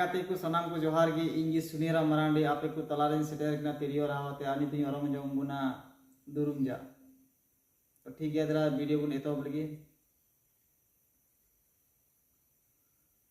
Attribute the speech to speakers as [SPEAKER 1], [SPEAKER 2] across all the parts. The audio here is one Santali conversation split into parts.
[SPEAKER 1] ᱜᱟᱛᱮ ᱠᱚ ᱥᱟᱱᱟᱢ ᱠᱚ ᱡᱚᱦᱟᱨ ᱜᱮ ᱤᱧ ᱜᱮ ᱥᱩᱱᱤᱨᱟ ᱢᱟᱨᱟᱱᱰᱤ ᱟᱯᱮ ᱠᱚ ᱛᱟᱞᱟᱨᱮᱧ ᱥᱮᱴᱮᱨ ᱠᱟᱱᱟ ᱛᱤᱨᱭᱳ ᱨᱟᱦᱟᱣᱟᱛᱮ ᱟᱨ ᱱᱤᱛᱚᱜ ᱤᱧ ᱚᱨᱚᱝ ᱡᱚᱝ ᱵᱚᱱᱟ ᱫᱩᱨᱩᱢ ᱡᱟ ᱛᱚ ᱴᱷᱤᱠ ᱜᱮᱭᱟ ᱫᱟᱫᱟ ᱵᱷᱤᱰᱤᱭᱳ ᱵᱚᱱ ᱮᱛᱚᱦᱚᱵ ᱞᱟᱹᱜᱤᱫ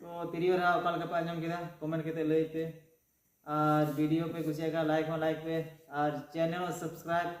[SPEAKER 1] ᱛᱚ ᱛᱤᱨᱭᱳ ᱨᱟᱦᱟ ᱚᱠᱟ ᱞᱮᱠᱟ ᱯᱮ ᱟᱸᱡᱚᱢ ᱠᱮᱫᱟ ᱠᱚᱢᱮᱱᱴ ᱠᱟᱛᱮ ᱞᱟᱹᱭ ᱯᱮ ᱟᱨ ᱵᱷᱤᱰᱤᱭᱳ ᱯᱮ ᱠᱩᱥᱤᱭᱟᱜ ᱠᱷᱟᱱ ᱞᱟᱭᱤᱠ ᱦᱚᱸ ᱞᱟᱭᱤᱠ ᱯᱮ ᱟᱨ ᱪᱮᱱᱮᱞ ᱦᱚᱸ ᱥᱟᱵᱥᱠᱨᱟᱭᱤᱵ ᱯᱮ